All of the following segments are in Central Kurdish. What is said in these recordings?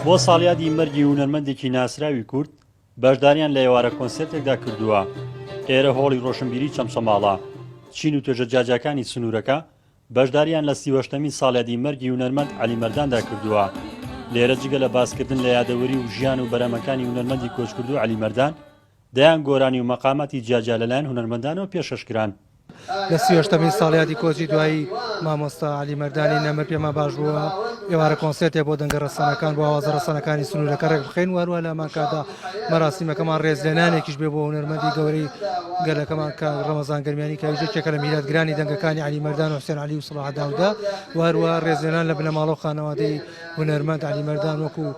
بۆ ساڵیادی مەرگی هونەرمەندێکی ناسراوی کورد بەشداریان لە ئێوارە کۆنسرتێکدا کردووە ئێرە هۆڵی ڕۆشنبیری چەمچەماڵە چین و توێژە جاجاکانی سنوورەکە بەشداریان لە سیوەشتەمین ساڵیادی مەرگی هونەرمەند علیمەرداندا کردووە لێرە جگە لە باسکردن لە یادەوەری و ژیان و بەرەمەکانی هونەرمەندی کۆچکردو علیمەردان دەیان گۆرانی و مەقاماتی جیا جیا لەلایەن هونەرمەندانەوە پێشکەش کران. لە سی و هەشتەمین ساڵیادی کۆچی دوایی مامۆستا عەلی مەردانی نەمر پێمان باش بوو ئێوارە کۆنسێرتێک بۆ دەنگە رەسەنەکان بۆ ئاوازە رەسەنەکانی سنوورەکە رێکبخەین و هەروەها لە هەمان کاتدا مەراسیمەکەمان رێزلێنانێکیش بێ بۆ هونەرمەندی گەورەی گەلەکەمان کاک رەمەزان گەرمیانی کە ئەویش یەکێکە لە میراتگرانی دەنگەکانی عەلی مەردان و حوسێن عەلی و سڵاح داوودە و هەروەها رێزلێنان لە بنەماڵە و خانەوادەی هونەرمەند عەلی مەردان وەکوو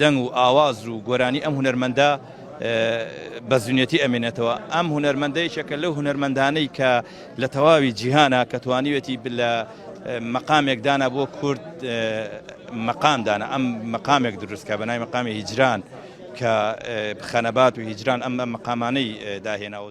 دەنگ و ئاواز و گۆرانی ئەم هونەرمەندە بە زونەتی ئەمێنێتەوە ئەم هونەرمەندەیەکە لەو هونەرمەندانەی کە لە تەواوی جیهانە کە توانیوێتی لە مەقامێکدانا بۆ کورد مەقامدانە ئەم مەقامێک دروستکە بە نای مەقامی هیجران کە خەنەبات و هیجران ئەم مەقامانەی داهێناوە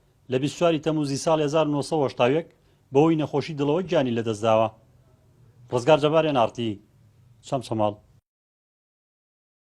لە بیست و چوار ی تەمووزی ساڵی هەزار و نۆ سەد و هەشتا و یەک بەهۆی نەخۆشی دڵەوە گیانی لەدەستداوە. ڕزگار جەبار ئێن ئاڕ تی چەمچەماڵ.